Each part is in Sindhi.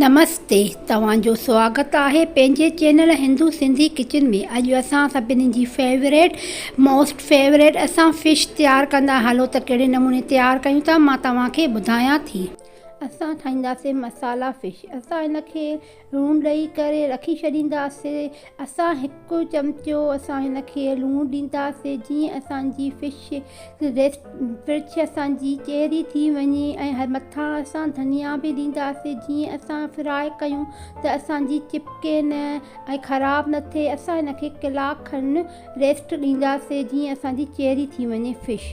نمستي توهان جو سواگت آهي پنهنجي چينل هندو سنڌي ڪچن ۾ اڄ اسان سڀني جي فيوريٽ موسٽ فيوريٽ اسان فش تيار ڪندا هلو ته ڪهڙي نموني تيار ڪيون ٿا مان توهان کي ٻڌايان ٿي اسان ٺاهينداسين مسالا فش اسان ان کي لوڻ ڏئي ڪري رکي ڇڏينداسي اسان هڪ چمچو اسان هن کي لوڻ ڏينداسي جيئن اسان جي فش فرچ اسان جي چهري ٿي وڃي ۽ مٿان اسان ڌنيا به ڏينداسي جيئن اسان فراء ڪيون ته اسان جي چپڪي نه ۽ خراب نه ٿئي اسان هن کي ڪلاڪ کن ريسٽ ڏينداسي جيئن اسان جي چهري ٿي وڃي fish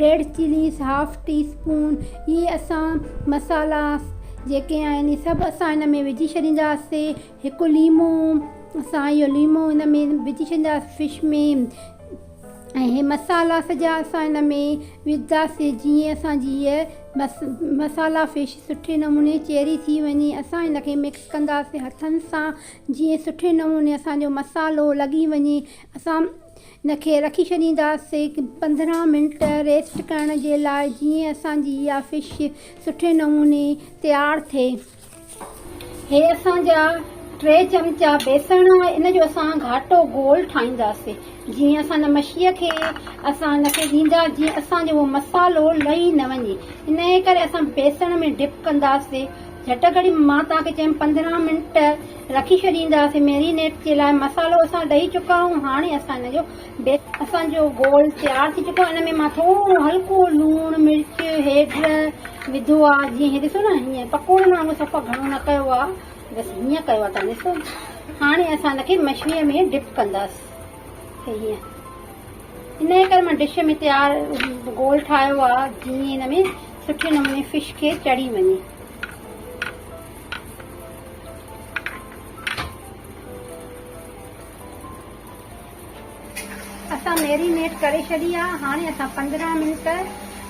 red chillies half teaspoon اهي اسان مصالحا جيڪي آهن اهي سڀ اسان ان ۾ وجهي ڇڏينداسي هڪ ليمو اسان اهو ليمو ان ۾ وجهي ڇڏينداسي فش ۾ ۽ اهي مصالحا سڄا اسان ان ۾ وجهنداسي جيئن اسانجي هيء مصالحا فش سٺي نموني چيري ٿي وڃي اسان ان کي مڪس ڪنداسي هٿن سان جيئن سٺي نموني اسانجو مصالحو لڳي وڃي اسان ان کي رکي ڇڏينداسي پندرهن منٽ ريسٽ ڪرڻ جي لاء جيئن اسان جي اها فش سٺي نموني تيار ٿئي. هي اسان جا ٽي چمچا بيسڻ ان جو اسان گهاٽو گول ٺاهينداسي جيئن اسان ان مڇي کي اسان ان کي ڏيندا جيئن اسان جو اهو مصالحو لهي نه وڃي انهي ڪري اسان بيسڻ ۾ ڊپ ڪنداسي جهٽ ڪري مان توهان کي چيم پندرهن منٽ رکي ڇڏينداسين ميرينيٽ جي لاء مصالحو اسان ڏئي چڪا آهيون هاڻي اسان ان جو بيس اسان جو گول تيار ٿي چڪو آهي ان ۾ مان ٿورو هلڪو لوڻ مرچ هيڊ وڌو آهي جيئن هي ڏسو نه هيئن پڪوڙن وانگو صفا گهڻو نه ڪيو آهي بس هيئن ڪيو آهي تان ڏسو هاڻي اسان ان کي مڇيء ۾ ڊپ ڪنداس هيئن ان جي ڪري مان ڊش ۾ تيار گول ٺاهيو آهي جيئن ان ۾ سٺي نموني فش کي چڙهي وڃي اسان ميرينيٽ ڪري ڇڏي آ هاڻي اسان پندرهن منٽ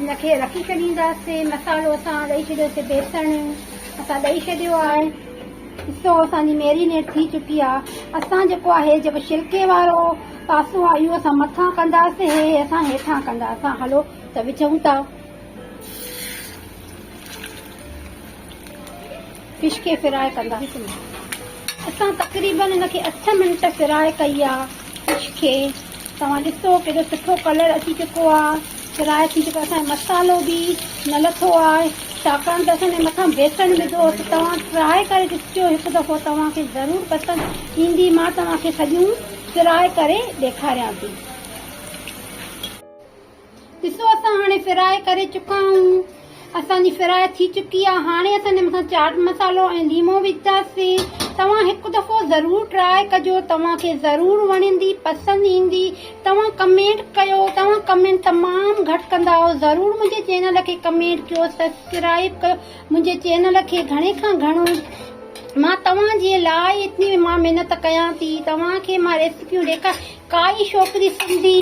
ان کي رکي ڇڏينداسي مصالحو اسان ڏئي ڇڏيو سي بيسڻ اسان ڏئي ڇڏيو آهي ڏسو اسان جي ميرينيٽ ٿي چڪي آ اسان جيڪو آهي جيڪو شلڪي وارو پاسو آ اهو اسان مٿان ڪنداسي هي اسان هيٺان ڪنداسان هلو ته وجهون ٿا خشڪي فرائي ڪنداسين اسان تقريبن ان کي اٺ منٽ فرائي ڪئي آ خشڪي توهان ڏسو ڪيڏو سٺو ڪلر اچي چڪو آ فرائي ٿي چڪو اسان مصالو به نه لٿو آ ڇاڪاڻ ته اسان مٿان بيسن وڌو ته توهان ٽرائي ڪري ڏسجو هڪ دفعو توهان کي ضرور پسند ايندي مان توهان کي سڄيون فرائي ڪري ڏيکاريان ٿي ڏسو اسان هاڻي فرائي ڪري چڪا آهيون اسان جي فرائي ٿي چڪي آهي هاڻي اسان هن مٿان چاٽ مصالحو ۽ ليمو وجهنداسين توهان هڪ دفعو ضرور ٽرائي ڪجو توهان کي ضرور وڻندي پسند ايندي توهان ڪمينٽ ڪيو توهان ڪمينٽ تمام گهٽ ڪندا آهيو ضرور منهنجي چينل کي ڪمينٽ ڪيو سبسڪرائيب ڪيو منهنجي چينل کي گهڻي کان گهڻو مان توهان جي لاء اتني مان محنت ڪيان ٿي توهان کي مان ريسيپيون ڏيکار ڪائي ڇوڪري سنڌي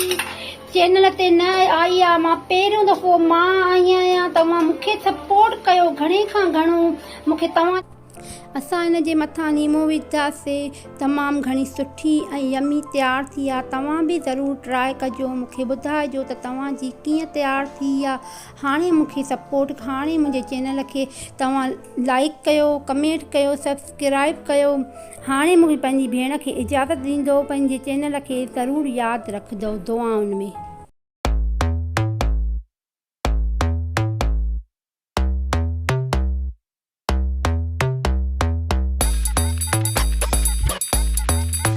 چينل تي نه آئي آهي مان پهريون دفعو مان آئي آهيان توهان مونکي سپورٽ ڪيو گهڻي کان گهڻو مونکي توهان. اسان هن جي مٿان ليمو وجهدا سي تمام گهڻي سٺي ۽ يمي تيار ٿي آ توهان به ضرور ٽرائي ڪجو مونکي ٻڌائجو ته توهان جي ڪيئن تيار ٿي آ هاڻي مونکي سپورٽ هاڻي منهنجي چينل کي توهان لائڪ ڪيو ڪمينٽ ڪيو سبسڪ. سبسڪرائب ڪيو هاڻي مون کي پنهنجي ڀيڻ کي اجازت ڏيندو پنهنجي چينل کي ضرور ياد رکجو دعائن ۾.